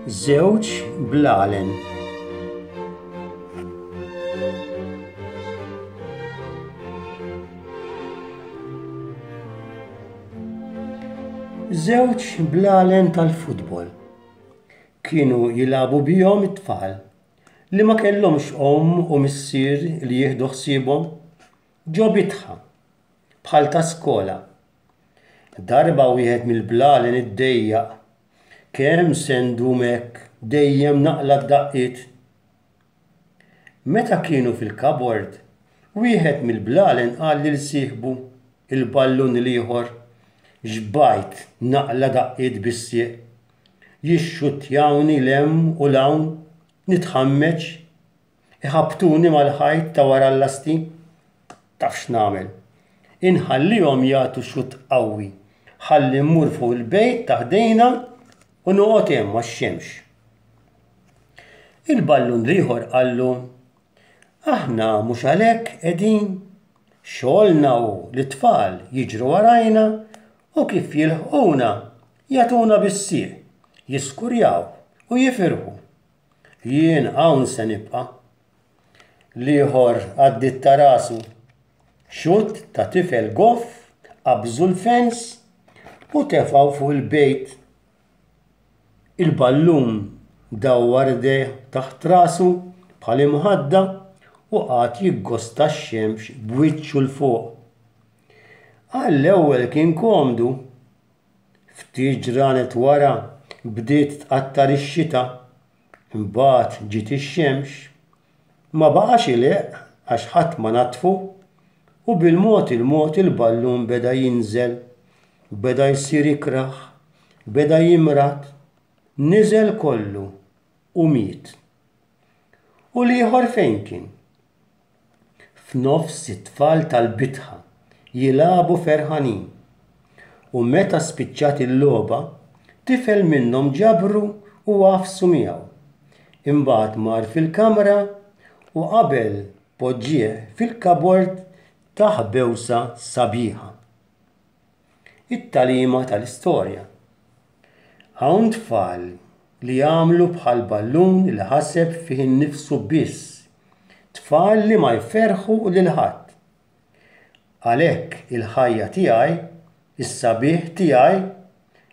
żewġ blalen. Żewġ blalen tal-futbol. Kienu jilabu bihom it-tfal. li ma kellhomx omm u missier li jieħdu ħsiebhom ġo bitħa bħal ta' skola. Darba wieħed mill-blalen iddejjaq kemm se ndum hekk dejjem naqla d-daqqiet. Meta kienu fil-kabord, wieħed mill-blalen qal lil sieħbu, il-ballun l-ieħor, Xbajt naqla daqqiet bis-sieq? jixxuttjawni 'l hemm u 'l hawn, nitħammeġ, iħabbtuni mal-ħajt ta' wara l-lasti. Taf x'nagħmel? Inħallihom jagħtu xutt qawwi ħalli mmur fuq il-bejt ta' ħdejna u noqgħod hemm għax-xemx. Il-ballun l-ieħor qallu, Aħna mhux għalhekk qegħdin. Xogħolna hu li t-tfal jiġru warajna u kif jilħquna Jagħtuna bis-sieq, jiskurjaw u jifirħu. Jien hawn se nibqa'. L-ieħor għaddiet ta' rasu. Xutt ta' tifel goff qabżu l-fens u tefgħu fuq il-bejt. Il-ballun dawwar idejh taħt rasu bħal imħadda u qagħad jiggosta x-xemx b'wiċċu 'l fuq. Għall-ewwel kien komdu, Ftit ġranet wara bdiet tqattar ix-xita, imbagħad ġiet ix-xemx. Ma baqax ilehq għax ħadd ma naddfu u bil-mod il-mod il-ballun beda jinżel. Beda jsir ikrah, beda jimrad, niżel kollu u miet. U l-ieħor fejn kien? F'nofs it-tfal tal-bitħa jilagħbu ferħanin u meta spiċċat il-logħba, tifel minnhom ġabru u għaffsu miegħu. Imbagħad mar fil-kamra u qabel poġġieh fil-kabord tah bewsa sabiħa. It-tagħlima tal-istorja. Hawn tfal li jagħmlu bħal ballun li ħaseb fih innifsu biss, tfal li ma jferrħu lil ħadd. Għalhekk il-ħajja tiegħi, is-sabiħ tiegħi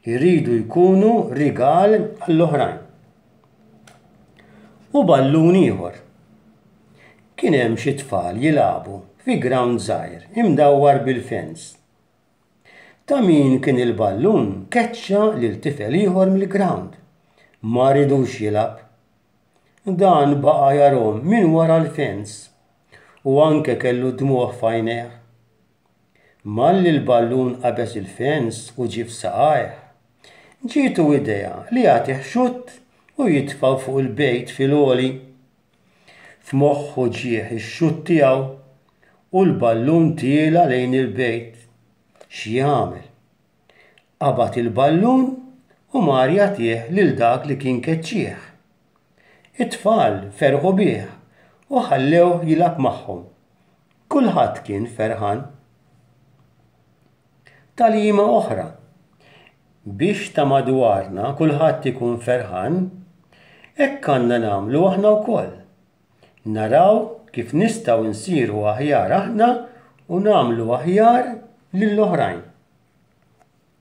jridu jkunu rigal għall-oħrajn. u ballun ieħor. Kien hemm xi tfal jilagħbu fi grawnd żgħir imdawwar bil-fens. Ta' min kien il-ballun keċċa lil tifel ieħor mill-grawnd. Ma ridux jilgħab. Dan baqa' jarahom minn wara l-fens u anke kellu d-dmugħ f'għajnejh. Malli l-ballun qabeż il-fens u ġie f'saqajh, ġietu idea li jagħtih xutt u jitfgħu fuq il-bejt fil-għoli. F'moħħu ġieh ix-xutt tiegħu u l-ballun tiela' lejn il-bejt. X'jagħmel? Qabad il-ballun u mar jagħtih lil dak li kien keċċieh. It-tfal ferħu bih u ħallewh jilgħab magħhom. Kulħadd kien ferħan. Tagħlima oħra. Biex ta' madwarna kulħadd ikun ferħan, hekk għandna nagħmlu aħna wkoll. Naraw kif nistgħu nsiru aħjar aħna u nagħmlu aħjar lill-oħrajn.